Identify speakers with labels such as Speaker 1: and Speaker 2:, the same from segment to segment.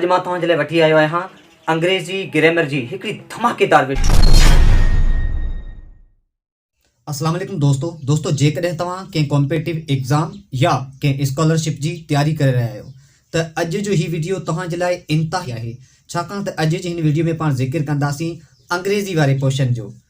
Speaker 1: اڄ مان توهان جي لاء وٺي آيو آهيان انگريزي گرامر جي هڪڙي ڌماڪيدار وڊيو.
Speaker 2: السلام عليڪم دوستو دوستو جيڪڏهن توهان ڪنهن ڪامپيٽيو ايگزام يا ڪنهن اسڪالرشپ جي تياري ڪري رهيا آهيو ته اڄ جو هي وڊيو توهان جي لاء انتهائي آهي ڇاڪاڻ ته اڄ جي هن وڊيو ۾ پاڻ ذڪر ڪنداسين انگريزي واري پورشن جو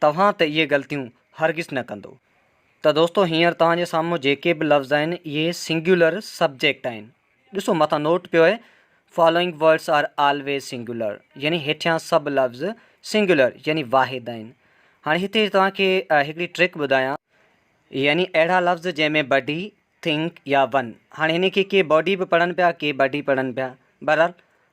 Speaker 1: توهان ته اهي غلطيون هرگز نه ڪندو. ته دوستو هينئر توهان جي سامهون جيڪي به لفظ آهن اهي سنگيولر سبجيڪٽ آهن. ڏسو مٿان نوٽ پيو اهي Following words are always singular يعني هيٺيان سڀ لفظ سنگيولر يعني واحد آهن. هاڻي هتي توهان کي هڪڙي ٽرڪ ٻڌايان. يعني اهڙا لفظ جنهن ۾ بڊي، ٿنڪ يا ون. هاڻي هن کي ڪي باڊي به پڙهن پيا ڪي بڊي پڙهن پيا. بهرحال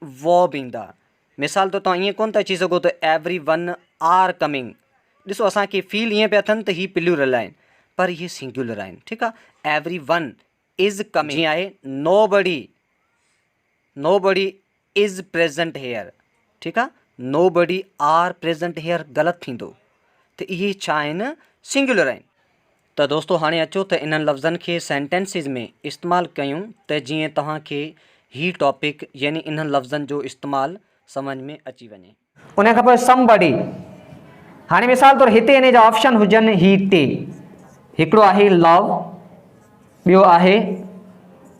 Speaker 1: ووب ايندا. مثال طور توهان ائين ڪونه ٿا چئي سگهو ته ايوري ون آر ڪمنگ. ڏسو اسان کي فيل ائين پيا ٿين ته هي پليورل آهن پر اهي سنگيولر آهن ٺيڪ آهي ايوري ون از ڪمنگ جيئن آهي نو بڊي نو بڊي از پريزنٽ هيئر ٺيڪ آهي nobody are present here غلط ٿيندو ته اهي ڇا آهن سنگيولر آهن. ته دوستو هاڻي اچو ته انهن لفظن کي سينٽينسز ۾ استعمال ڪيون ته جيئن توهان کي هي ٽاپڪ يعني انهن لفظن جو استعمال سمجهه ۾ اچي وڃي. انهيء کان پوء Somebody
Speaker 3: هاڻي مثال طور هتي انهيء جا آپشن هجن هي ٽي هڪڙو آهي Love ٻيو آهي.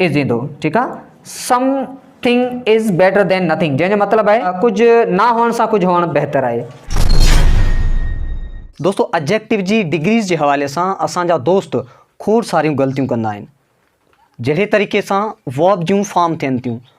Speaker 3: از ايندو ٺيڪ آ something is better than nothing جنهن جو مطلب آهي ڪجهه نه هئڻ سان ڪجهه هئڻ بهتر آهي.
Speaker 1: دوستو Adjective جي ڊگريز جي حوالي سان اسان جا دوست کوڙ ساريون غلطيون ڪندا آهن جهڙي طريقي سان Verb جون فارم ٿين ٿيون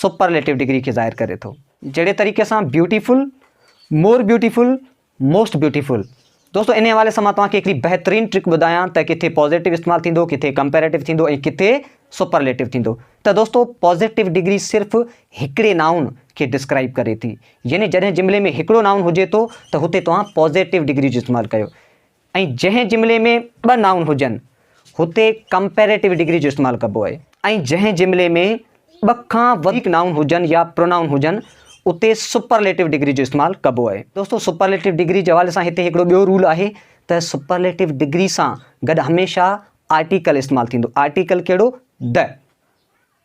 Speaker 1: سپرليٽو ڊگري کي ظاهر ڪري ٿو، جهڙي طريقي سان Beautiful، More Beautiful، Most Beautiful. دوستو انهي حوالي سان مان توهان کي هڪڙي بهترين ٽرڪ ٻڌايان ته ڪٿي پازيٽو استعمال ٿيندو، ڪٿي ڪمپيريٽو ٿيندو ۽ ڪٿي سپرليٽو ٿيندو. ته
Speaker 3: دوستو پازيٽو ڊگري صرف هڪڙي نائون کي ڊسڪرائيب ڪري ٿي، يعني جڏهن جملي ۾ هڪڙو نائون هجي ٿو ته هتي توهان پازيٽو ڊگري جو استعمال ڪيو. ۽ جنهن جملي ۾ ٻه نائون هجن هتي ڪمپيريٽو ڊگري جو استعمال ڪبو آهي ۽ جنهن جملي ۾ ٻه کان وڌيڪ نائون هجن يا پرونائون هجن اتي سپرليٽو ڊگري جو استعمال ڪبو آهي. دوستو سپرليٽو ڊگري جي حوالي سان هتي هڪڙو ٻيو رول آهي ته سپرليٽو ڊگري سان گڏ هميشه آرٽيڪل استعمال ٿيندو آرٽيڪل ڪهڙو؟ The.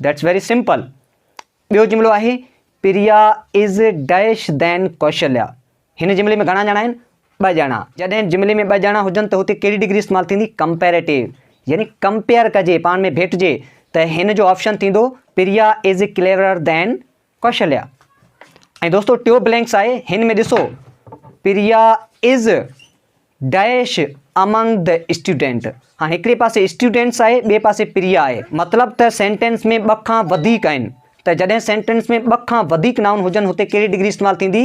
Speaker 3: That's very simple. ٻيو جملو آهي پريا از ڊيش دين ڪوشليا. هن جملي ۾ گهڻا ڄڻا آهن؟ ٻه ڄڻا. جڏهن جملي ۾ ٻه ڄڻا هجن ته هتي ڪهڙي ڊگري استعمال ٿيندي؟ ڪمپيريٽو يعني ڪمپيئر ڪجي، پاڻ ۾ ڀيٽجي ته هن جو آپشن ٿيندو پريا از ڪليورر دين ڪوشليا ۽ دوستو ٽيو بلينڪس آهي هن ۾ ڏسو پريا از ڊيش امنگ د اسٽوڊنٽ هاڻي هڪڙي پاسي اسٽوڊنٽس آهي ٻئي پاسي پريا آهي مطلب ته سينٽينس ۾ ٻه کان وڌيڪ آهن ته جڏهن سينٽينس ۾ ٻه کان وڌيڪ نائون هجن هتي ڪهڙي ڊگري استعمال ٿيندي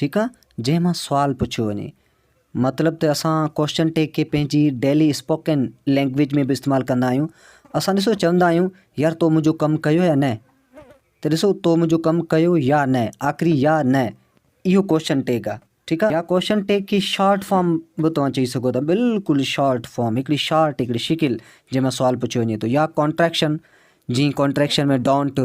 Speaker 3: ٺيڪ آ جنهن مان سوال پڇيو وڃي مطلب ته اسان ڪوشچن ٽيگ کي پنهنجي ڊيلي اسپوڪن لينگويج ۾ به استعمال ڪندا آهيون اسان ڏسو چوندا آهيون يار تو منهنجو ڪم ڪيو يا نه ته ڏسو تو منهنجو ڪم ڪيو يا نه آخري يا نه اهو ڪوشچن ٽيگ آ ٺيڪ آ يا ڪوشچن ٽيگ کي شارٽ فارم به توهان چئي سگهو ٿا بلڪل شارٽ فارم هڪڙي شارٽ هڪڙي شڪل جنهن مان سوال پڇيو وڃي ٿو يا ڪانٽريڪشن جي ڪانٽريڪشن ۾ ڊونٽ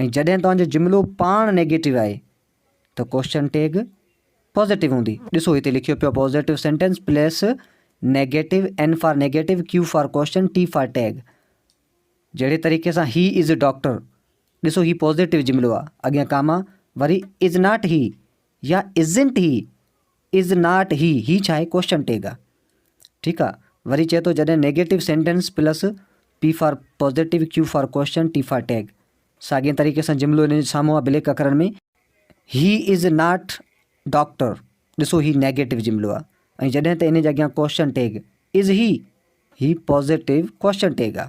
Speaker 3: ۽ جڏهن توهان جو جملو پاڻ نيگيٽو آهي ته ڪوشچن ٽيگ پازيٽو هوندي. ڏسو هتي لکيو پيو آهي positive sentence plus negative, N for negative, Q for question, T for tag. جهڙي طريقي سان هي از اي ڊاڪٽر، ڏسو هي پازيٽو جملو آهي، اڳيان ڪاما، وري از ناٽ هي يا ازنٽ هي. از ناٽ هي، هي ڇا آهي؟ ڪوشچن ٽيگ آ ٺيڪ آ. وري چئي ٿو جڏهن negative sentence plus P for positive Q for question T for tag ساڳئين طريقي سان جملو ان جي سامهون آ بليڪ اکرن ۾ هي از ناٽ ڊاڪٽر ڏسو هي نيگيٽو جملو آ ۽ جڏهن ته ان جي اڳيان ڪوشچن ٽيگ از هي هي پازيٽو ڪوشچن ٽيگ آ.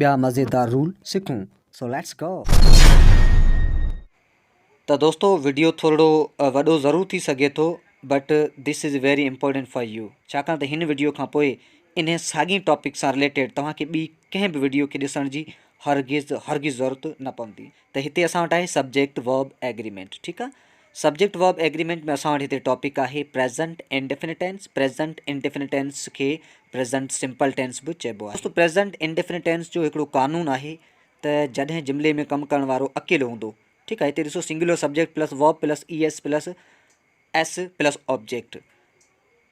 Speaker 3: ٻيا مزيدار رول سکون سو ليٽس گو.
Speaker 1: ته دوستو وڊيو ٿورڙو وڏو ضرور ٿي سگهي ٿو but this is very important for you ڇاڪاڻ ته هن وڊيو کان پوء انهي ساڳين ٽاپڪ سان رليٽيڊ توهان کي ٻي ڪنهن به وڊيو کي ڏسڻ جي هرگز هرگز ضرورت نه پوندي ته هتي اسان وٽ آهي سبجيڪٽ ورب ايگريمينٽ ٺيڪ آ سبجيڪٽ ورب ايگريمينٽ ۾ اسان وٽ هتي ٽاپڪ آهي present indefinite tense, present indefinite tense کي پريزنٽ سمپل ٽينس به چئبو آهي. دوستو پريزنٽ انڊيفنٽ ٽينس جو هڪڙو قانون آهي ته جڏهن جملي ۾ ڪم ڪرڻ وارو اڪيلو هوندو ٺيڪ آهي هتي ڏسو singular subject plus verb plus E S plus S plus object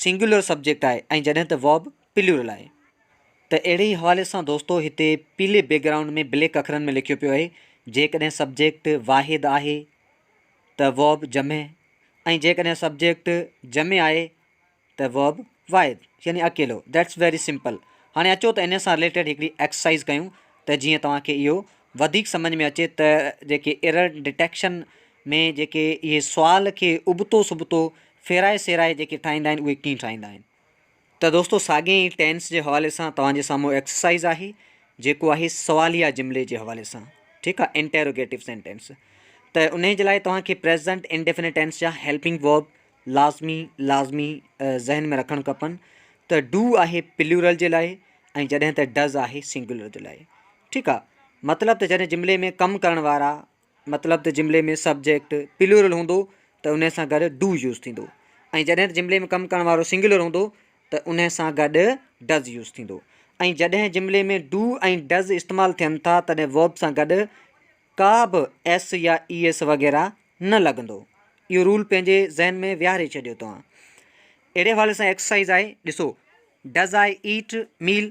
Speaker 1: singular subject آهي ۽ جڏهن ته Verb پليورل آهي. ته اهڙي ئي حوالي سان دوستو هتي پيلي بيڪ گرائونڊ ۾ بليڪ اکرن ۾ لکيو پيو اهي جيڪڏهن سبجيڪٽ واحد آهي ته Verb جمع ۽ جيڪڏهن سبجيڪٽ جمع آهي ته Verb واحد يعني اڪيلو That's very simple هاڻي اچو ته انهي سان رليٽيڊ هڪڙي ايڪسرسائز ڪيون ته جيئن توهان کي اهو وڌيڪ سمجهه ۾ اچي ته جيڪي ايرر ڊيٽيڪشن ۾ جيڪي اهي سوال کي ابتو سبتو ڦيرائي سيرائي جيڪي ٺاهيندا آهن اهي ڪيئن ٺاهيندا آهن ته دوستو ساڳين ئي ٽينس جي حوالي سان توهان جي سامهون ايڪسرسائيز آهي جيڪو آهي سواليه جملي جي حوالي سان ٺيڪ آهي انٽيروگيٽو سينٽينس ته انهي جي لاء توهان کي پريزنٽ انڊيفينٽ ٽينس جا هيلپنگ ورب لازمي لازمي ذهن ۾ رکڻ کپن ته ڊو آهي پليورل جي لاء ۽ جڏهن ته ڊز آهي سنگولر جي لاء ٺيڪ آهي مطلب ته جڏهن جملي ۾ ڪم ڪرڻ وارا مطلب ته جملي ۾ سبجيڪٽ پليورل هوندو ته انهي سان گڏ ڊو يوز ٿيندو ۽ جڏهن ته جملي ۾ ڪم ڪرڻ وارو سنگيولر هوندو ته انهي سان گڏ ڊز يوز ٿيندو ۽ جڏهن جملي ۾ ڊو ۽ ڊز استعمال ٿين ٿا تڏهن ورب سان گڏ ڪا به ايس يا اي ايس وغيره نه لڳندو اهو رول پنهنجي ذهن ۾ ويهاري ڇڏيو توهان اهڙي حوالي سان ايڪسرسائز آهي ڏسو ڊز آء ايٽ ميل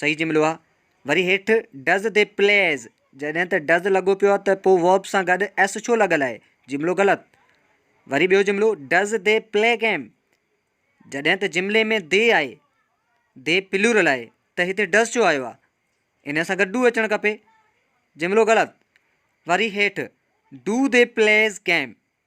Speaker 1: صحيح جملو آ. وري هيٺ ڊز تي پليز جڏهن ته ڊز لڳو پيو آ ته پو ورب سان گڏ ايس ڇو لڳل آهي جملو غلط. وري ٻيو جملو ڊز دي پلي گيم جڏهن ته جملي ۾ دي آهي دي پلورل آهي ته هتي ڊز ڇو آيو آ انهي سان گڏ ڊو اچڻ کپي جملو غلط. وري هيٺ ڊو دي پليز گيم.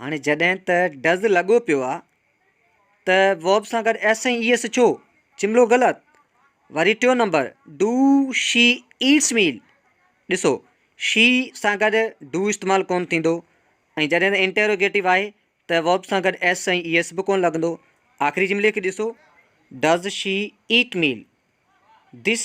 Speaker 1: هاڻي جڏهن ته ڊز لڳو پيو آ ته ووب سان گڏ ايس ۽ اي ايس ڇو؟ جملو غلط. وري ٽيون نمبر ڊو شي ايٽس ميل ڏسو شي سان گڏ ڊو استعمال ڪون ٿيندو ۽ جڏهن ته انٽيروگيٽو آهي ته ووب سان گڏ ايس ۽ اي ايس به ڪون لڳندو. آخري جملي کي ڏسو ڊز شي ايٽ ميل دس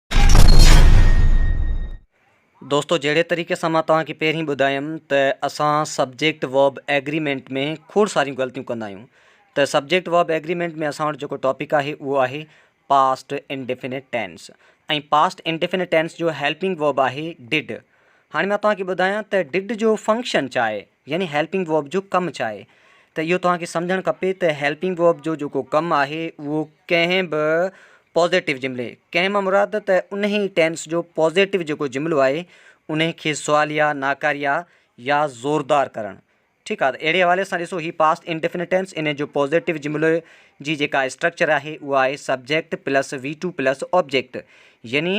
Speaker 1: دوستو جهڙي طريقي سان مان توهان کي پهرين ٻڌايم ته اسان سبجيڪٽ وب ايگريمينٽ ۾ کوڙ ساريون غلطيون ڪندا آهيون ته سبجيڪٽ وب ايگريمينٽ ۾ اسان وٽ جيڪو ٽاپڪ آهي اهو آهي past indefinite tense ۽ past indefinite tense جو هيلپنگ وب آهي ڊڊ هاڻي مان توهان کي ٻڌايان ته ڊڊ جو فنڪشن ڇا آهي يعني هيلپنگ ورب جو ڪم ڇا آهي ته اهو توهان کي سمجهڻ کپي ته هيلپنگ ورب جو جيڪو ڪم آهي اهو ڪنهن به پازيٽو جملي ڪنهن مان مراد ته انهي ٽينس جو پازيٽو جيڪو جملو آهي انهي کي سواليا ناڪاريا يا زوردار ڪرڻ ٺيڪ آهي اهڙي حوالي سان ڏسو هي پاسٽ انڊيفنيٽ ٽينس انهي جو پازيٽو جملو جي جيڪا اسٽرڪچر آهي اها آهي subject plus V two plus object يعني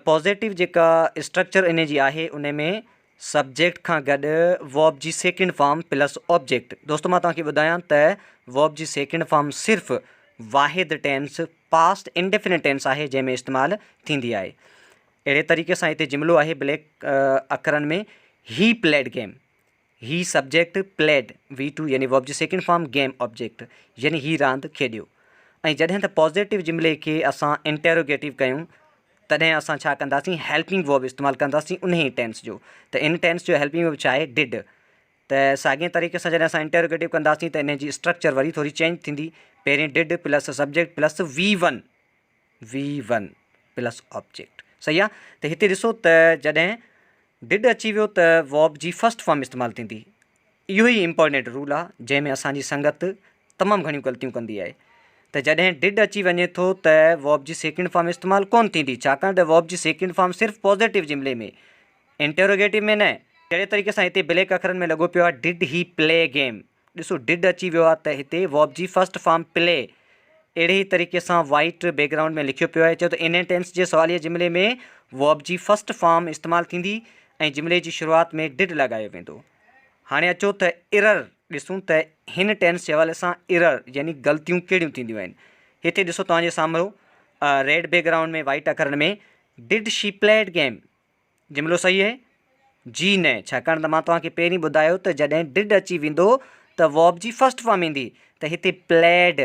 Speaker 1: پازيٽو جيڪا اسٽرڪچر انهي جي آهي ان ۾ سبجيڪٽ کان گڏ Verb جي سيڪنڊ فارم پلس آبجيڪٽ دوستو مان توهان کي ٻڌايان ته Verb جي سيڪنڊ فارم صرف واحد ٽينس پاسٽ انڊيفينٽ ٽينس آهي جنهن ۾ استعمال ٿيندي آهي اهڙي طريقي سان هتي جملو آهي بليڪ اکرن ۾ هي پليڊ گيم هي سبجيڪٽ پليڊ وي ٽو يعني Verb جي سيڪنڊ فارم گيم آبجيڪٽ يعني هي راند کيڏيو ۽ جڏهن ته پازيٽو جملي کي اسان انٽيروگيٽو ڪيون تڏهن اسان ڇا ڪنداسين هيلپنگ ورب استعمال ڪنداسين انهي ئي ٽينس جو ته ان ٽينس جو هيلپنگ ورب ڇا آهي ڊڊ ته ساڳئين طريقي سان جڏهن اسان انٽيروگيٽو ڪنداسين ته انهي جي اسٽرڪچر وري ٿوري چينج ٿيندي پهرين did plus subject plus V one V one plus object صحيح آ ته هتي ڏسو ته جڏهن ڊڊ اچي ويو ته ورب جي فرسٽ فارم استعمال ٿيندي اهو ئي امپورٽنٽ رول آ جنهن ۾ اسان جي سنگت تمام گهڻيون غلطيون ڪندي آهي ته جڏهن ڊڊ اچي وڃي ٿو ته ووب جي سيڪنڊ فارم استعمال ڪون ٿيندي ڇاڪاڻ ته ووب جي سيڪنڊ فارم صرف پوزيٽو جملي ۾ انٽروگيٽو ۾ نه جهڙي طريقي سان هتي بليڪ اکرن ۾ لڳو پيو آهي ڊڊ هي پلي گيم ڏسو ڊڊ اچي ويو آهي ته هتي ووب جي فرسٽ فارم پلي اهڙي ئي طريقي سان وائٽ بيڪ گرائونڊ ۾ لکيو پيو آهي چيو ته انهن ٽينس جي سواليه جملي ۾ ووب جي فرسٽ فارم استعمال ٿيندي ۽ جملي جي شروعات ۾ ڊڊ لڳايو ويندو هاڻي اچو ته Error ڏسون ته هن ٽينس جي حوالي سان Error يعني غلطيون ڪهڙيون ٿينديون آهن. هتي ڏسو توهان جي سامهرو ريڊ بيڪ گرائونڊ ۾ وائيٽ اکرن ۾ Did she played game جملو صحيح آهي؟ جي نه ڇاڪاڻ ته مان توهان کي پهرين ٻڌايو ته جڏهن Did اچي ويندو ته Verb جي فرسٽ فارم ايندي ته هتي Played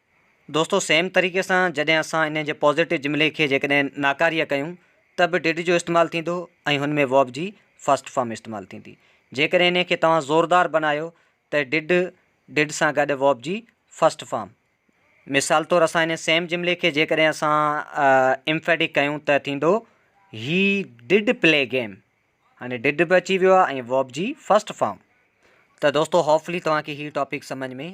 Speaker 1: دوستو سيم طريقي سان جڏهن اسان انهي جي پازيٽو جملي کي جيڪڏهن ناڪاريه ڪيون ته به ڊڊ جو استعمال ٿيندو ۽ هن ۾ Verb جي First Form استعمال ٿيندي. جيڪڏهن انهي کي توهان زوردار بنايو ته ڊڊ Did سان گڏ Verb جي First Form مثال طور اسان انهي سيم جملي کي جيڪڏهن اسان Emphatic ڪيون ته ٿيندو He did play game هاڻي Did به اچي ويو آهي ۽ Verb جي First Form ته دوستو Hopefully توهان کي هي Topic سمجهه ۾